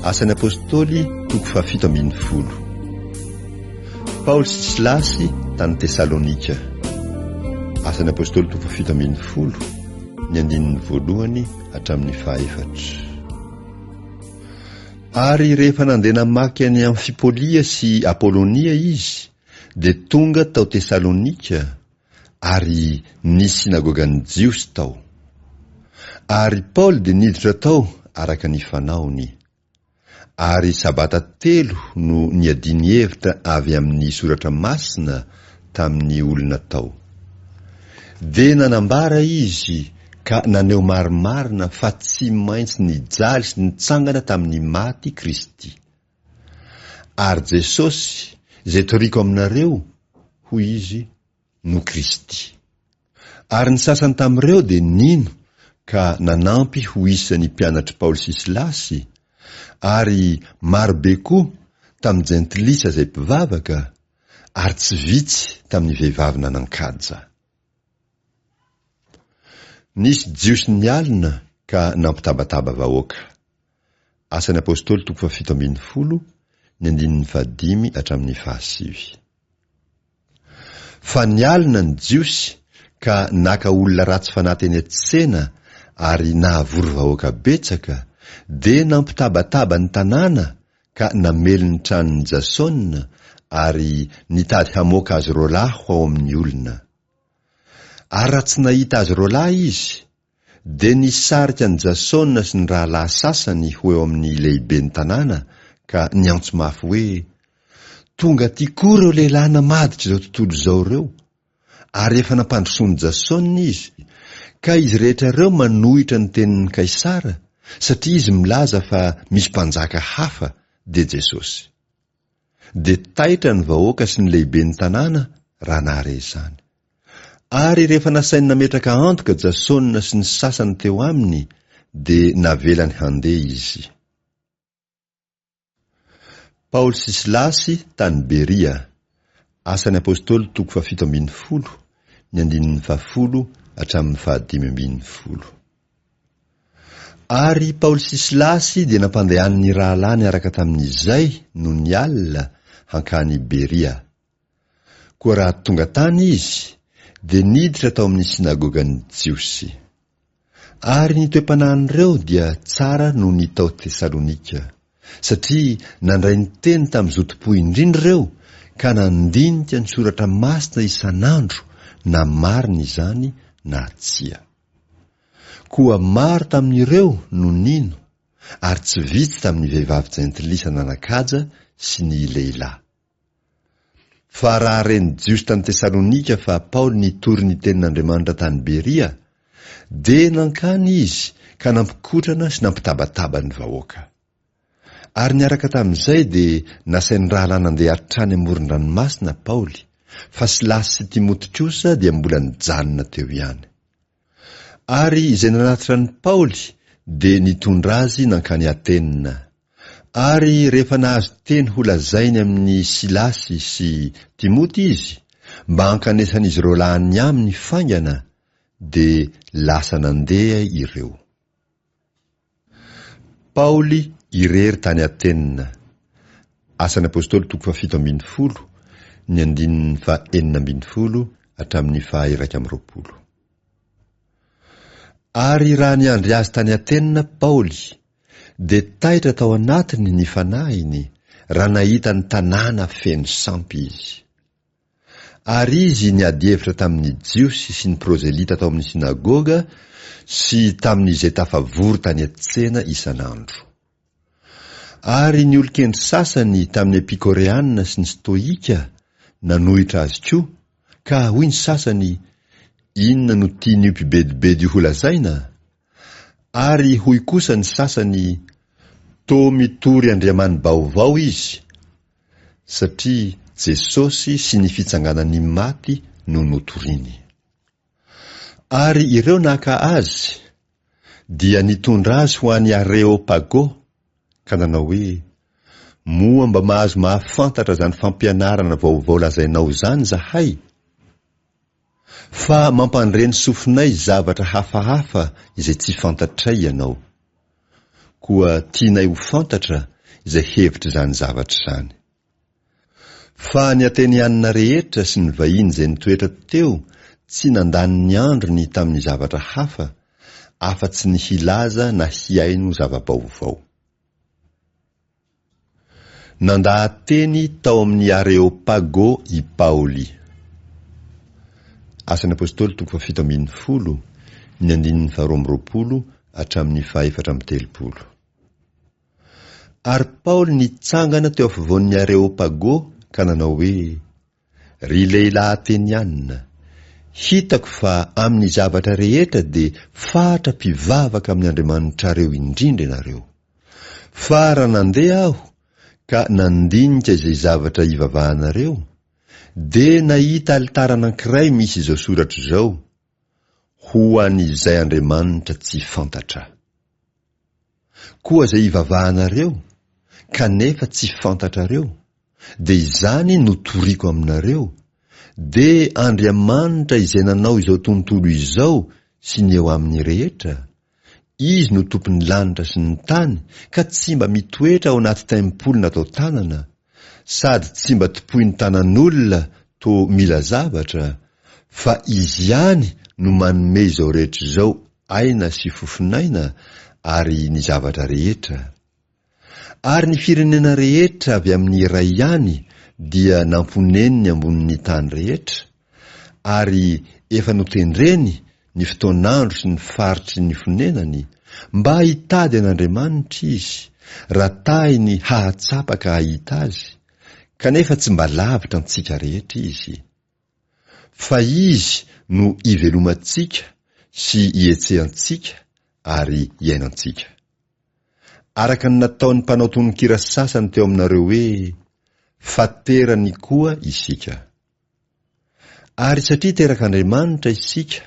Asan'ny Apôstôly, toko fahafito ambin'ny folo. Paoly sy Silasy tany Tesalônika. Asan'ny Apôstôly, toko fahafito ambin'ny folo, ny andininy voalohany hatramin'ny fahaefatra. Ary rehefa nandeha namaky an'i Amfipôlia sy Apôlônia izy, dia tonga tao Tesalônika, Ary nisy synagogan'ny Jiosy tao. Ary Paoly dia niditra tao araka ny fanaony. Ary sabata telo no niadiany hevitra avy amin'ny Soratra Masina tamin'ny olona tao. Dia nanambara izy ka naneho marimarina fa tsy maintsy nijaly sy nitsangana tamin'ny maty Kristy. Ary Jesosy, izay toriako aminareo, hoy izy, no Kristy. Ary ny sasany tamin'ireo dia nino ka nanampy ho isan'ny mpianatr'i Paoly sy Silasy, ary marobe koa tamin'ny jentilisa izay mpivavaka, ary tsy vitsy tamin'ny vehivavy nanan-kaja. Nisy Jiosy nialona ka nampitabataba vahoaka. Asan'ny Apôstôly toko fahafito ambin'ny folo, ny andininy fahadimy hatramin'ny fahasivy. Fa nialona ny Jiosy ka naka olona ratsy fanahy teny an-tsena ary nahavory vahoaka betsaka, dia nampitabataba ny tanàna ka namely ny tranon'i Jasôna ary nitady hamoaka azy roalahy ho ao amin'ny olona. Ary raha tsy nahita azy roalahy izy, dia nisarika an'i Jasona sy ny rahalahy sasany ho eo amin'ny lehiben'ny tanàna ka niantso mafy hoe, Tonga aty koa ireo lehilahy namaditr'izao tontolo izao ireo! Ary efa nampandrosoan'i Jasona izy, ka izy rehetra ireo manohitra ny tenin'i Kaisara, satria izy milaza fa misy mpanjaka hafa, dia Jesosy. dia taitra ny vahoaka sy ny lehiben'ny tanàna raha nahare izany. Ary rehefa nasainy nametraka antoka Jasona sy ny sasany teo aminy, dia navelany handeha izy. Paoly sy Silasy tany Beria. Asan'ny Apôstôly toko fahafito ambin'ny folo, ny andininy fahafolo hatramin'ny fahadimy ambin'ny folo. Ary i Paoly sy Silasy dia nampandehany ny rahalahy niaraka tamin'izay, nony alina, hankany Beria. Koa raha tonga tany izy, dia niditra tao amin'ny synagogan'ny Jiosy. Ary ny toe-panahin'ireo dia tsara noho ny tao Tesalonika, satria nandray ny teny tamin'ny zotom-po indrindra ireo ka nandinika ny Soratra Masina isan'andro na marina izany na tsia. Koa maro tamin'ireo no nino, ary tsy vitsy tamin'ny vehivavy jentilisa nanan-kaja sy ny lehilahy. Fa raha re ny Jiosy tany Tesalonika fa Paoly nitory ny tenin'Andriamanitra tany Beria, dia nankany izy ka nampikotrana sy nampitabataba ny vahoaka. Ary niaraka tamin'izay dia nasain'ny rahalahy nandeha hatrany amoron-dranomasina Paoly, fa Silasy sy Timoty kosa dia mbola nijanona teo ihany. Ary izay nanatitra an'i Paoly dia nitondra azy nankany Atena. Ary rehefa nahazo teny holazainy amin'i Silasy sy Timoty izy mba hankanesan'izy ireo lany aminy faingana, dia lasa nandeha ireo. Paoly irery tany Atena. Asan'ny Apôstôly toko fahafito ambin'ny folo, ny andininy fahenina ambin'ny folo hatramin'ny faha-iraika amby roapolo. Ary raha niandry azy tany Atena Paoly, dia taitra tao anatiny ny fanahiny, raha nahita ny tanàna feno sampy izy. Ary izy niady hevitra tamin' ny Jiosy sy ny prozelita tao amin' ny synagoga sy tamin' izay tafavory tany an-tsena isan' andro. Ary ny olon-kendry sasany tamin' ny Epikoreana sy ny Stoika nanohitra azy koa, ka hoy ny sasany, Inona no tian' io mpibedibedy io holazaina? Ary hoy kosa ny sasany, Toa mitory andriamani-baovao izy. Satria Jesosy sy ny fitsanganan'ny maty no notoriny. Ary ireo naka Azy, dia nitondra Azy ho any Areopago, ka nanao hoe, Moa mba mahazo mahafantatra izany fampianarana vaovao lazainao izany izahay? Fa mampandre ny sofinay zavatra hafahafa izay tsy fantatray ianao. Koa tianay ho fantatra izay hevitr'izany zavatra izany. Fa ny Atenianina rehetra sy ny vahiny izay nitoetra teo tsy nandany ny androny tamin'ny zavatra hafa afa-tsy ny hilaza na hihaino zava-baovao. Nandaha-teny tao amin'ny Areopago i Paoly. Asan'ny Apôstôly toko fahafito ambin'ny folo, ny andininy faharoa amby roapolo hatramin'ny fahefatra amby telopolo. Ary Paoly nitsangana teo afovoan'ny Areopago ka nanao hoe, Ry lehilahy Ateniana, hitako fa amin'ny zavatra rehetra dia fatra mpivavaka amin'ny andriamanitrareo indrindra ianareo. Fa raha nandeha aho ka nandinika izay zavatra hivavahanareo, dia nahita alitara anankiray misy izao soratra izao, Ho an' izay Andriamanitra tsy fantatra. Koa izay ivavahanareo, kanefa tsy fantatrareo, dia izany no toriko aminareo, dia Andriamanitra izay nanao izao tontolo izao sy ny eo aminy rehetra, Izy no Tompon'ny lanitra sy ny tany ka tsy mba mitoetra ao anaty taimpoly natao tanana, sady tsy mba tompoin'ny tanan'olona toa mila zavatra, fa Izy ihany no manome izao rehetra izao aina sy fofon'aina ary ny zavatra rehetra. Ary ny firenena rehetra avy amin'ny iray ihany dia namponeniny ambonin' ny tany rehetra, ary efa notendreny ny fotoan'andro sy ny faritry ny fonenany, mba hitady an' Andriamanitra izy, raha tahiny hahatsapa ka hahita Azy, kanefa tsy mba lavitra antsika rehetra Izy. Fa Izy no ivelomantsika sy ihetsehantsika ary iainantsika. Araka ny nataon'ny mpanao tononkira sasany teo aminareo hoe, Fa terany koa isika. Ary satria terak'Andriamanitra isika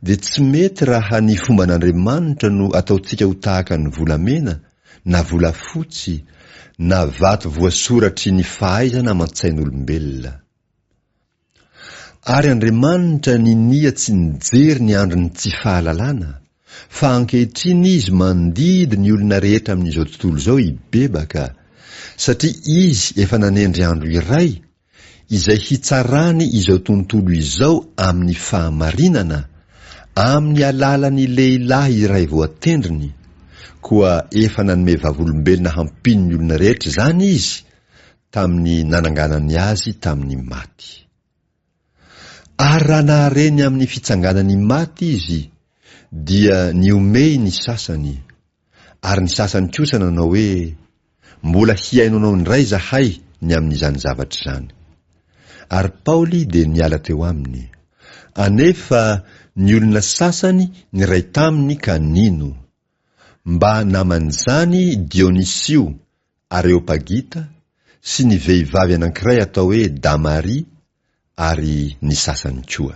dia tsy mety raha ny fomban'Andriamanitra no ataontsika ho tahaka ny volamena, na volafotsy, na vato voasoratry ny fahaizana aman-tsain'olombelona. Ary Andriamanitra ninia tsy nijery ny andron'ny tsy fahalalana, fa ankehitriny Izy mandidy ny olona rehetra amin'izao tontolo izao hibebaka, satria Izy efa nanendry andro iray izay hitsarany izao tontolo izao amin'ny fahamarinana amin'ny alalan'ny lehilahy iray voatendriny, koa efa nanome vavolombelona hampino ny olona rehetra izany izy tamin'ny nananganany azy tamin'ny maty. Ary raha nahare ny amin'ny fitsanganan'ny maty izy, dia nihomehy ny sasany, Ary ny sasany kosa nanao hoe, Mbola hihaino anao indray izahay ny amin'izany zavatra izany. Ary Paoly dia niala teo aminy. Anefa ny olona sasany niray taminy ka nino. Mba naman'izany Dionisio, Areopagita, sy ny vehivavy anankiray atao hoe Damaria, ary ny sasany koa.